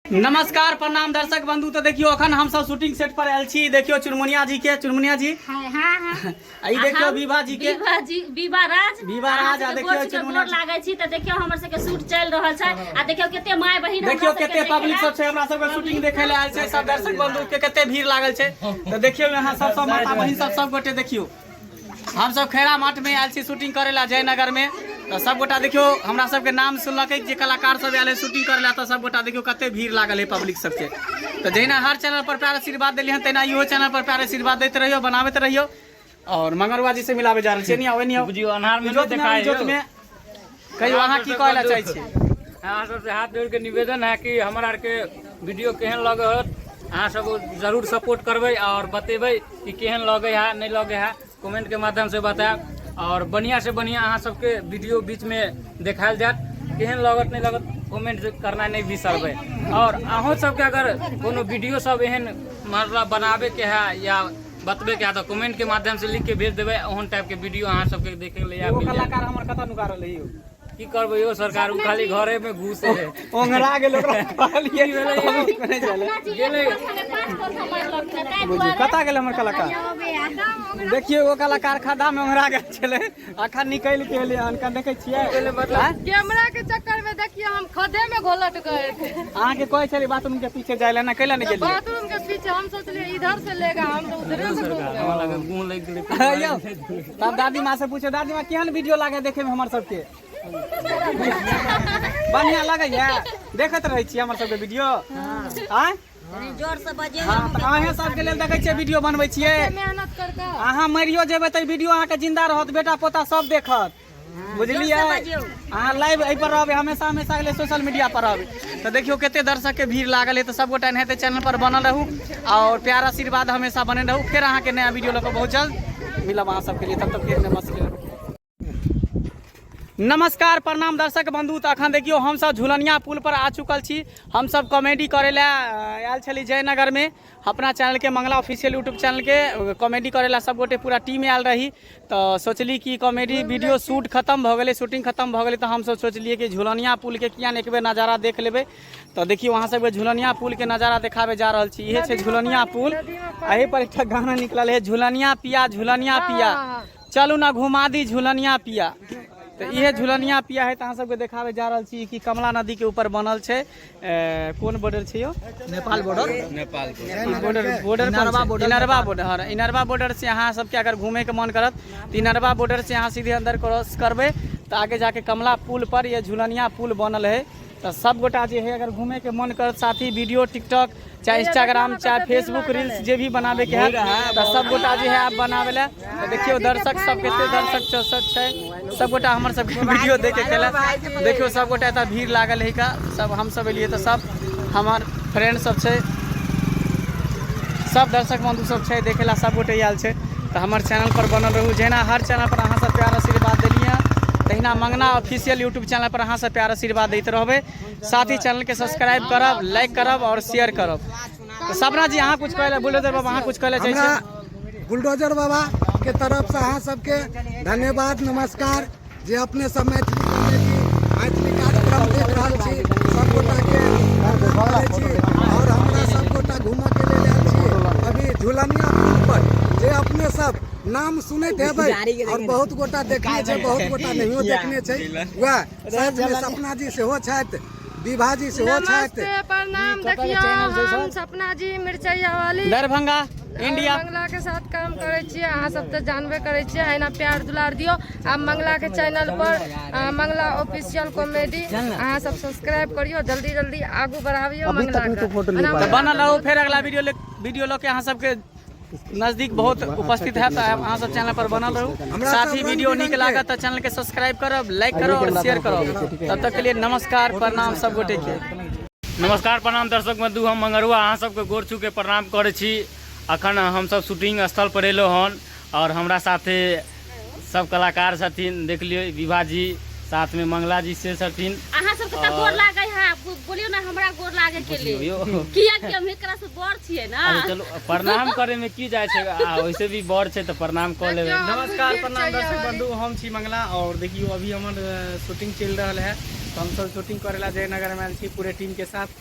नमस्कार प्रणाम दर्शक बंधु तो देखियो अखन हम सब शूटिंग सेट पर आयल छी देखियो चुनमुनिया जी के चुनमुनिया जी हाँ हाँ आई देखियो विभा जी के विभा जी विभा राज विभा राज आ देखियो चुनमुनिया लागै छी त देखियो हमर सब के शूट चल रहल छै आ देखियो केते माय बहिन देखियो केते पब्लिक सब छै हमरा सब के शूटिंग देखे ले आयल छै सब दर्शक बंधु के केते भीड़ लागल छै त देखियो यहां सब सब माता बहिन सब सब गोटे देखियो हमसभ खैरा मठमे आयल छी शूटिंग करै लए जयनगरमे तऽ सभगोटा देखियौ हमरा सभके नाम सुनलकै जे कलाकार सभ आयल है शूटिंग करै लए तऽ सभगोटा देखियौ कते भीड़ लागल है पब्लिक सभके तऽ जहिना हर चैनल पर प्यार आशीर्वाद देलियै हन तहिना इहो चैनल पर प्यार आशीर्वाद दैत रहियौ बनाबैत रहियौ और मंगरुआ जी से मिलावे जा रहल छियै नहीं आवे नहीं बुझियो अन्हार में नहीं देखाय जोत में कहियो अहाँ की कहै लए चाहै छी अहाँ सबसे हाथ जोड़ के निवेदन है कि हमरा आर के वीडियो केहन लगे होत अहाँ सब जरूर सपोर्ट करबै और बतेबै कि केहन लगे है नहीं लगे है कमेंट के माध्यम से बताएब और बढ़िया से बढ़िया अहाँ सबके वीडियो बीच में देखायल जात केहन लगत नहीं लगत कमेंट करना नहीं बिसरबै और अहूँ सबके अगर कोनो वीडियो सब एहन मतलब बनाबे के है या बतबे कए तऽ कमेंट के माध्यम से लिख के भेज देबै ओहन टाइप के वीडियो अहाँ सबके देखे के लिए आबि गेल कलाकार हमर कतऽ नुका रहलै यौ की करबै यौ सरकार ओ खाली घरे में घुसे है ओंगरा गेल ओकरा कहलिए नहि चले गेले कतऽ गेल हमर कलाकार देखिए ओ कलाकार खड्डा में ओंगरा गेल छलै अखन निकलि के एलियै हन कन देखै छियै कैमरा के चक्कर में देखिए हम खदे में घोलट गए थे अहाँ के कहै छलियै बाथरूम के पीछे जाय लए ना कैला नहि गेलियै बाथरूम के पीछे हम सोचलिए इधर से लेगा हम तो उधरे से घूम गए हमरा लगे मुंह लागि गेलै यौ तब दादी माँ से पूछे दादी माँ केहन वीडियो लागे देखे में हमर सबके बढ़िया लगैया देखैत रहै छियै हमर सबके वीडियो आँय अहें सबके लेल देखै छियै वीडियो बनबै छियै अहाँ मरियो जेबै तऽ वीडियो अहाँके जिन्दा रहत बेटा पोता सब देखत बुझलियै अहाँ लाइव एहिपर रहबै हमेशा हमेशा अगले सोशल मीडिया पर रहबै तऽ देखियौ कते दर्शक के भीड़ लागल है तऽ सबगोटा एनाहिते चैनल पर बनल रहू और प्यार आशीर्वाद हमेशा बने रहू फिर अहाँके नया वीडियो लऽ कऽ बहुत जल्द मिलब अहाँ सबके लिए तब तक फिर नमस्कार नमस्कार प्रणाम दर्शक बंधु तऽ अखन देखियौ हमसब झुलनिया पुल पर आ चुकल छी हमसब कॉमेडी करे लए अ, आयल छली जयनगर में अपना चैनल के मंगला ऑफिशियल यूट्यूब चैनल के अ, कॉमेडी करे लए सब गोटे पूरा टीम आयल रही तऽ सोचली कि कॉमेडी वीडियो शूट खत्म भऽ गेलै शूटिंग खत्म भऽ गेलै तऽ हमसब सोचलियै कि झुलनिया पुल के किया ने एक बेर नजारा देख लेबै तऽ देखियौ अहाँ सबके झुलनिया पुल के नजारा देखाबे जा रहल छी इहे छै झुलनिया पुल एहि पर एकटा गाना निकलल है झुलनिया पिया झुलनिया पिया चलू ने घुमा दी झुलनिया पिया तऽ इहे झुलनिया पिया है तऽ अहाँ सबके देखाबे जा रहल छी कि कमला नदी के ऊपर बनल छै ए, कोन बॉर्डर छै यो Nepal border Nepal border border Inarwa border, Inarwa border हँ, इनरवा बॉर्डर से अहाँ सबके अगर घूमे के मन करत तऽ इनरवा बॉर्डर से अहाँ सीधे अंदर क्रॉस करबै तऽ आगे जाके कमला पुल पर ये झुलनिया पुल बनल है तऽ सब गोटा जे है अगर घूमे के मन करत साथी वीडियो टिकटॉक चाहे इंस्टाग्राम चाहे फेसबुक रील्स जे भी बनावे के है तऽ सब गोटा जे है आप बनावे ला तऽ देखियो दर्शक सब कते दर्शक छ- सब छै सब गोटा हमर सब वीडियो देखे के ला देखियो सब गोटा एतऽ भीड़ लागल है का सब हम सब एलिए तऽ सब हमर फ्रेंड सब छै सब दर्शक बंधु सब छै देखे ला सब गोटे आयल छै तऽ हमर चैनल पर बनल रहू जहिना हर चैनल पर अहाँ सब प्यार आशीर्वाद देलिए तहिना मंगना ऑफिशियल यूट्यूब चैनल पर अहाँ सब प्यार आशीर्वाद देते रहबे साथ ही चैनल के सब्सक्राइब करब लाइक करब और शेयर करब तो सपना जी अहाँ कुछ कहले बुलडोजर बाबा अहाँ कुछ कहले चाहे छी बुलडोजर बाबा के तरफ से अहाँ सबके धन्यवाद नमस्कार जे अपने सब मैथिली मैथिली कार्यक्रम देख रहल छी सबगोटा के और हमरा सबगोटा घूमऽ के लेल आयल छी अभी झुलनिया पर जे अपने सब नाम सुनैत हेबै आओर बहुत गोटा देखने छै बहुत गोटा नहियो देखने छै वएह साथमे सपना जी सेहो छथि विभा जी सेहो छथि प्रणाम देखियौ हम सपना जी मिर्चैया वाली दरभंगा इंडिया मंगला के साथ काम करे छिए अहाँ सब तऽ जानबे करे छिए एना प्यार दुलार दियो आ मंगला के चैनल पर मंगला ऑफिशियल कॉमेडी अहाँ सब सब्सक्राइब करियो जल्दी जल्दी आगू बढ़ाबियो मंगला के बनल रहू फेर अगला वीडियो वीडियो लऽ के अहाँ सबके नजदीक बहुत उपस्थित है तो अहाँ सब चैनल पर बनल रहू साथ ही वीडियो निक लागत तो चैनल के सब्सक्राइब करब लाइक करो और शेयर करो तब तक के लिए नमस्कार प्रणाम सब गोटे के नमस्कार प्रणाम दर्शक बंधु हम मंगरुआ अहाँ सबके गोर छू के प्रणाम करै छी अखन हमसब शूटिंग स्थल पर एलहुँ हन और हमरा साथे सब कलाकार छथिन देख लियो विभा जी साथ में मंगला जी से छथिन अहाँ सब के गोर लागे है बोलियो ना हमरा गोर लागे के लिए किया कि हम एकरा से बड़ छिए ना चलो प्रणाम करे में की जाय छै आ वैसे भी बड़ छै त प्रणाम क लेबे नमस्कार प्रणाम दर्शक बंधु हम छी मंगला और देखियो अभी हमर शूटिंग चल रहल है तो हम सब शूटिंग करे ला जयनगर में छी पूरे टीम के साथ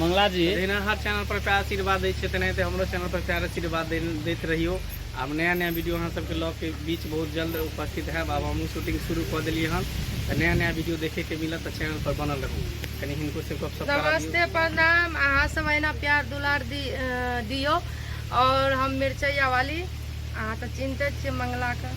मंगला जी जहिना हर चैनल पर प्यार आशीर्वाद दै छै तेनाहिते हमरो चैनल पर प्यार आशीर्वाद दैत रहियो आब नया नया वीडियो अहाँ सबके लऽ के बीच बहुत जल्द उपस्थित हैब आब हमहूँ शूटिंग शुरू कऽ देलियै हन तऽ नया नया वीडियो देखेके मिलत तऽ चैनल पर बनल रहू कनि हिनको से गप नमस्ते प्रणाम अहाँ सब अहिना प्यार दुलार दी दियो और हम मिर्चैया वाली अहाँ तऽ चिन्हते छियै मंगलाके